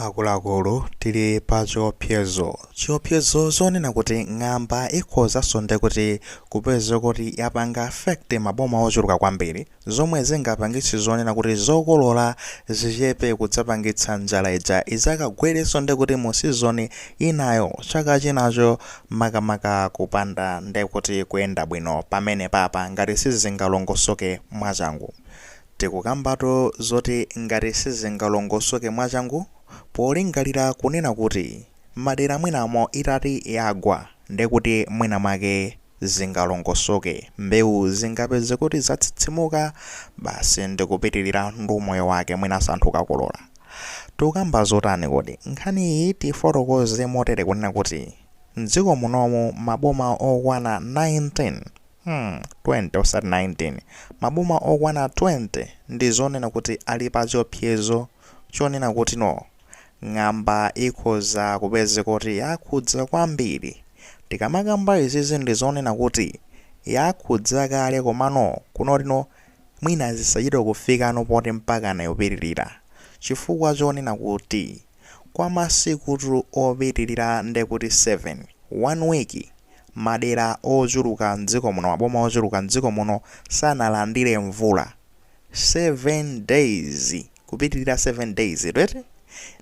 Akuluakulu tili pa chiopsezo. Chiopsezo chonena kuti ng'amba ikhozanso nde kuti kupezeka kuti yapanga affect maboma ochuluka kwambiri zomwe zingapangitse zonena kuti zokolola zichepe kudzapangitsa njala ija idzakagwerenso nde kuti mu season inayo chaka chinacho makamaka kupanda nde kuti kuyenda bwino pamenepapa ngati sizingalongosoke mwachangu Tikukambatu zoti ngati sizingalongosoke mwachangu polingalira kunena kuti madera mwinamo itati yagwa ndekuti mwina mwake zingalongosoke mbewu zingapeze kuti zatsitsimuka basi ndikupitilira ndi umoyo wake mwinanso anthu kukakolola. Tikukamba zotani kodi? Nkhani iyi tifotokoze motere kunena kuti mdziko munomu maboma okwana 19. Hmm 20 osati 19. Maboma okwana 20 ndi zonena kuti ali pa chiopsezo chonena kuti no. Ng'amba ikhoza kupezeka kuti yakhudza kwambiri. Tikamakamba izizi ndi zonena kuti yakhudza kale komano kunoti no mwina zisachite kufikano poti mpakana yopitirira. Chifukwa chonena kuti. Kwa masiku opitilira ndekuti 7, one week, madera ochuluka m'dziko muno, maboma ochuluka m'dziko muno sanalandire mvula. 7 days, kupitilira 7 days tu eti?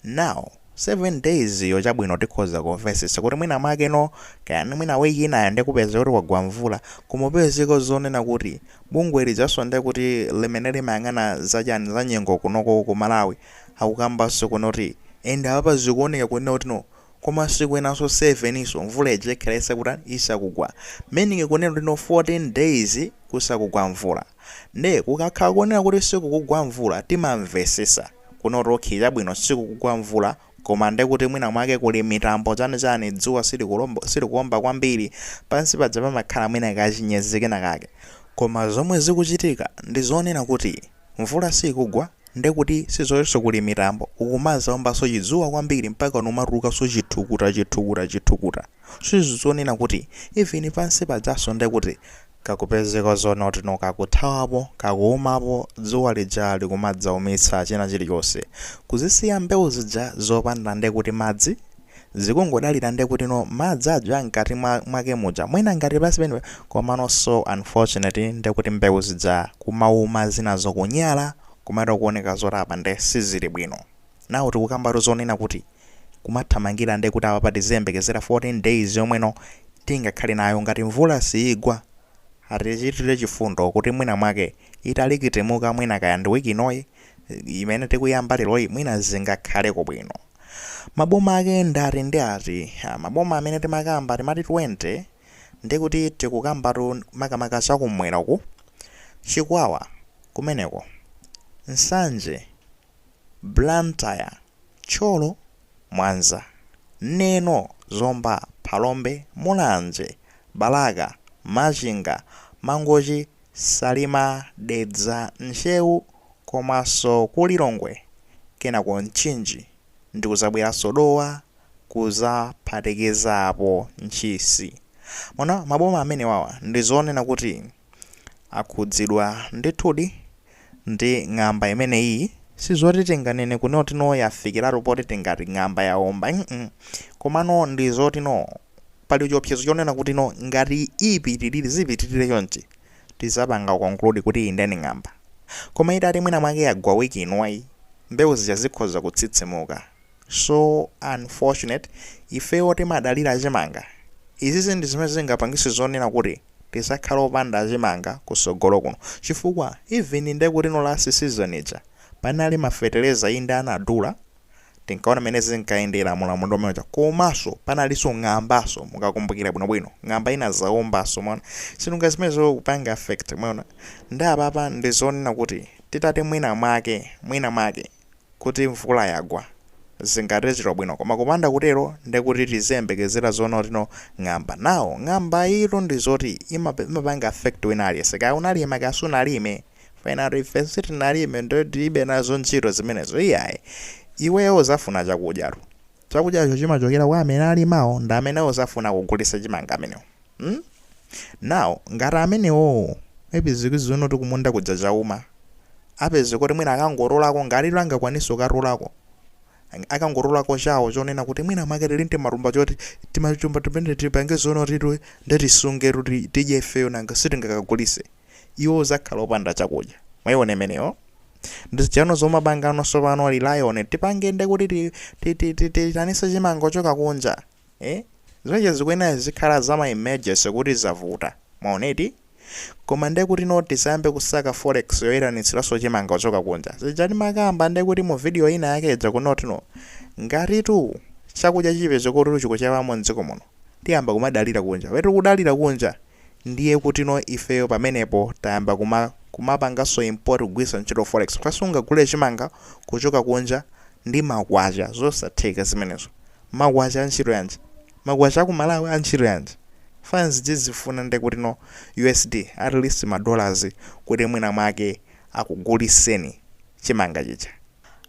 Now, 7 days yo chabwino tikhoza kumvesesa kuti mwina mwake no, kaya ni mwina week inayo nde kupeze kuti kwagwa mvula, kumapezeka zonena kuti bungwe lijaso ndekuti limene limayang'ana za chani, za nyengo kunoko ku Malawi, akukambaso kunoti and apapa zikuoneka kunena kuti no komasiku enaso 7 so mvula ija ikhala isakutan isakugwa meaning kunena kuti no 14 days kusakugwa mvula nde kukakhala kunena kuti sikukugwa mvula timamvesesa kunoti okay chabwino sikukugwa mvula koma ndekuti mwina mwake kuli mitambo chani chani dzuwa silikulombo silikuomba kwambiri pansi paja pamakhala mwina kachinyezi kenakake koma zomwe zikuchitika ndizonena kuti Mvula siikugwa nde kuti sizotinso kuli mitambo, kukumazaombanso chidzuwa kwambiri mpaka nkumatulukanso chithukuta chithukuta chithukuta sizi zonena kuti even pansi pajanso nde kuti kukupezeka zonoti no pakuthawapo pakuumapo dzuwa lija likumadzaumitsa china chilichonse kuzisiya mbewu zija zopanda nde kuti madzi. zikungodalira nde kutino madzi aja a mkati mwake muja mwina ngati pansi penepake komano so unfortunately nde kuti mbewu zija kumauma zinazo kunyala kumaita kuoneka zoti apa nde sizili bwino now tikukambatu zonena kuti kumathamangira nde kuti apapa tiziyembekezera 14 days yomweno tingakhale nayo ngati mvula siigwa atichitire chifundo kuti mwina mwake italikitimuka mwina kaya ndi week inoyi imene tikuyamba leroyi mwina zingakhaleko bwino maboma ake ndi ati ndi ati Ah, maboma amene timakamba timati 20 ndi kuti tikukambatu makamaka zakumwera uku chikwawa kumeneko nsanje blantyre thyolo mwanza neno zomba phalombe mulanje balaka machinga mangochi Salima, Dedza, Ntcheu komaso ku Lilongwe kenako Mchinji ndikuzabweraso Dowa kuzaphatikizapo Ntchisi. Mwaona maboma amenewawa ndizoona kuti akhudzidwa ndithudi ndi ng'amba imeneyiyi. Sizoti tinganene kunena kuti no yafikiratu poti tingati ng'amba yaomba mm komano ndizoti no Pali chiopsezo chonena kuti no ngati ipitilire zipitilire chonchi tizapanga conclude kuti iyi nde ni ng'amba koma itati mwina mwake yagwa week inoyi mbewu zija zikhoza kutsitsimuka so unfortunate ifeyo timadalira achimanga izizi ndi zimene zingapangise zonena kuti tizakhale opanda achimanga kusogolo kuno chifukwa even ndekuti no last season ija panali ma feteleza inde anadula tinkaona mmene zinkayendera mu ulamuliro umene uja komanso panalinso ng'ambaso mukakumbukira bwinobwino ng'amba inazaombaso mwaona si zinthu zimene zokupanga affect mwaona ndi apapa ndi zonena kuti titati mwina mwake mwina mwake kuti mvula yagwa zingathere bwino koma kupanda kutero ndi kuti tiziyembekezera zonena kuti no ng'amba nawo ng'amba ilo ndi zoti imape- imapanga affect wina aliyense kaya unalima kaya sunalime Penanotu ife sitinalime ndiye tilibe nazo ntchito zimenezo iyayi. Iweyo uzafuna chakudyatu. Chakudyacho chimachokera kwa amene alimawo ndi amene uzafuna kugulisa chimanga amenewo. Hmm? Now ngati amenewowo maybe zino kuti kumunda kuja chauma apeze kuti mwina akangotolako ngati angakwanise kukatolako akangotolako chawo chonena kuti mwina mwake tili ndi matumba choti timatumba timene tipange zonena kuti nde tisunge kuti tidye ifeyo nanga sitingakagulise. Iwe uzakhala opanda chakudya. Mwaiona imeneyo? Ndi zija no zomapanga no sopano rely on. Tipange nde kuti ti- ti- ti- ti- tiitanitse chimanga chochoka kunja. Eh? Zimenezo zikuyenera zizikhala za ma emergency kuti zavuta. Mwaona eti? Koma nde kuti no tisayambe kusaka forex yoitanitsiranso chimanga chochoka kunja. Zija timakamba nde kuti mu video ina yake ija kunena kuti no. Ngatitu chakudya chipeze kuti chikuchepamo m'dziko muno. Tiyamba kumadalira kunja. Wetu kudalira kunja. ndiye kutino ifeyo pamenepo tayamba kumapanganso import kugwiritsa ntchito forex chifukwa sungagule chimanga kuchoka kunja ndi makwacha zosatheka zimenezo makwacha antchito yanji makwacha aku malawi antchito yanji fans izifuna nde kutino usd at least ma dollars kuti mwina mwake akuguliseni chimanga chija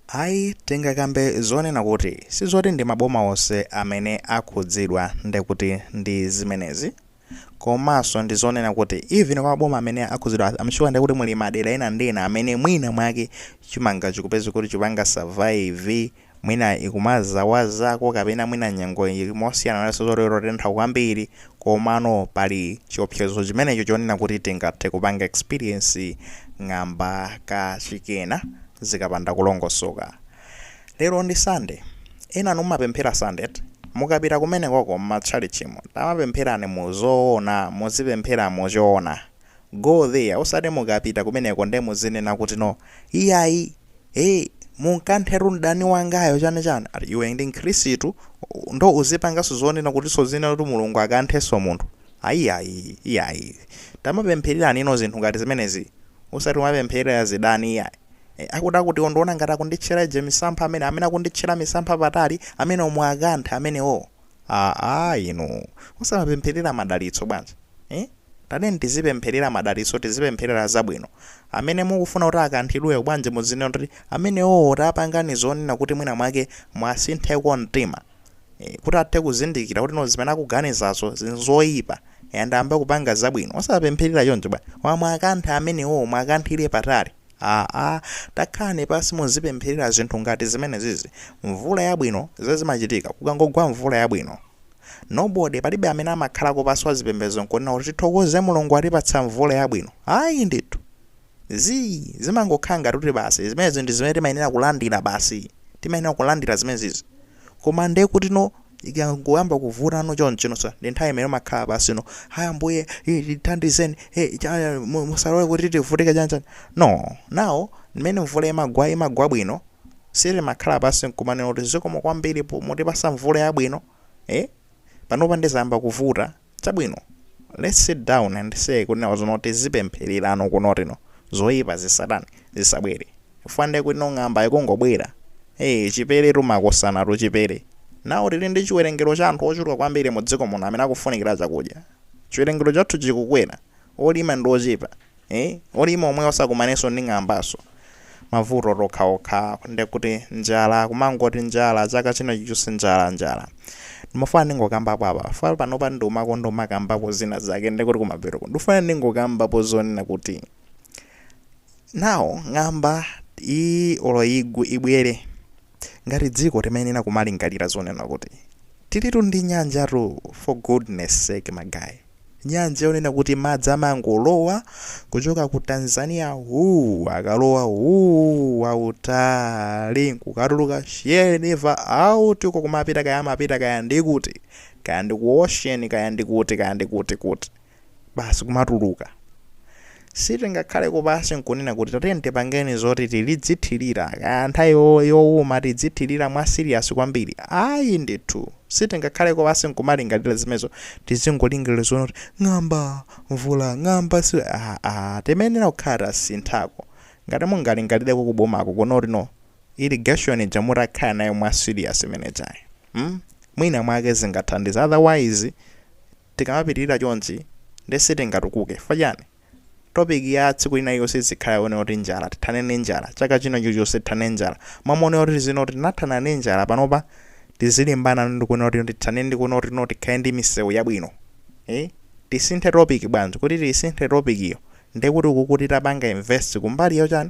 ayi tingakambe zonena kuti sizoti ndi maboma onse amene akhudzidwa ndekuti ndi zimenezi. komanso ndizonena kuti even kwa maboma amene akhudzidwa am sure ndekuti muli madera ena ndi ena amene mwina mwake chimanga chikupezeka kuti chikupanga survive mwina ikumazawazako kapena mwina nyengo ili mosiyana ndi zoterozo kotentha kwambiri komano pali chiopsezo chimenecho chonena kuti tingathe kupanga experience ng'amba kachikena zikapanda kulongosoka Lero ndi Sunday. Enanu mumapemphera Sunday eti? Mukapita kumenekoko mma tchalitchimo, tamapempherani mu zoona, muzipemphera mu choona. Go there, osati mukapita kumeneko nde muzinena kuti no, iyayi, hey, mumukanthiretu mdani wangayo chani chani. Ati iwe ndi mkhrisitu ndo uzipanganso zonena kutinso uzinena kuti Mulungu akanthenso munthu. Ayiyayi, iyayi. Tamapemphererani inu zinthu ngati zimenezi. osati kumapempherera zidani iyayi. Eh, akuti akuti ondiona ngati akunditchera uje misampha amene amene akunditchera misampha patali amenewo mwakanthe amenewowo. Aa inu osamapempherera madalitso bwanji? Eh? Tatiyeni tizipempherera madalitso tizipempherera zabwino. Amene mukufuna kuti akanthidweyo bwanji muzinena kuti amenewowo tapangani zonena kuti mwina mwake mwasintheko mtima. eh, kuti athe kuzindikira kuti no zimene akuganizazo zinzoyipa and ayambe kupanga zabwino osapempherera choncho bwana aa mwakanthe amenewo mwakanthire patali aa takhalani pansi muzipempherera zinthu ngati zimene zizi mvula yabwino zimachitika kukangogwa mvula yabwino nobody palibe amene amakhalako pansi wa zipembedzo nkunena kuti tithokoze mulungu atipatsa mvula yabwino ayi ndithu Zii, zimangokhala ngati kuti basi, zimenezo ndi zimene timayenera kulandira basi, timayenera kulandira zimenezizo. Koma ndiye kutino, ikangoyamba kuvutano chonchino, ndi nthawi imene umakhala pansino, Haya Ambuye, eh, tithandizeni, eh, cha, eh, mu- musalole kuti tivutike chani chani. No, now mmene mvula imagwa, imagwa bwino, sitimakhala pansi nkumanena kuti zikomo kwambiri mukutipatsa mvula yabwino, eh, panopa nde zayamba kuvuta. Chabwino, let's sit down and say kuti now zinozi tizipemphererano kunena kutino zoipa zisatani, zisabwere chifukwa nde kutino ng'amba ikungobwera, ee chiperetu makosana chipere, now tili ndi chiwerengero cha anthu ochuluka kwambiri mu dziko muno amene akufunikira chakudya, chiwerengero chathu chikukwera, olima ndi ochepa. Eeh olima omwewo osakumananso ndi ng'ambaso? mavuto okhaokha ndekuti njala kumangoti njala chaka china chilichonse njala njala. ndimafuna ndingokambapo apa chifukwa panopa ndimakonda kumakambako zina zake ndekuti kumapetoko ndikufuna ndingokambapo zonena kuti now ng'amba iyi olo igwe ibwere. Ngati dziko timayenera kumalingalira zonena kuti tilitu ndi nyanja tu for goodness sake ma guy nyanja yonena kuti madzi amangolowa kuchoka ku Tanzania wuu akalowa wuu wautali nkukatuluka Shire River out uko kumapita kaya amapita kaya ndikuti kaya ndi ku ocean kaya ndikuti kaya ndikuti kuti basi kumatuluka sitingakhaleko pansi nkunena kuti tatiyeni tipangeni zoti tizithirira kaya nthawi yo- yowuma tidzithirira mwa siriyasi kwambiri ayi ndithu sitingakhaleko pansi nkumalingalira zimenezo tizingolingalira zonena kuti ng'amba mvula ng'amba si aa timayenera kukhala tasinthako ngati mungalingalireko kubomako kunoko kuti no irrigation ija mutakhala nayo mwa siriyasi imenejayi mm? mwina mwake zingathandiza otherwise Tikamapitirira chonchi nde sitingatukuke chifukwa chani? Topic ya tsiku lina lililonse izikhala yonena kuti njala, tithane ndi njala, chaka china chilichonse tithane ndi njala. M'malo monena kuti tizinena kuti tinathana ndi njala panopa tizilimbana ndi kunena kuti tithane ndi kunena kuti no tikhale ndi misewu yabwino. Eh? Tisinthe topic bwanji? Kuti tiisinthe topic yo nde kuti ukuku titapanga invest kumbali yochani?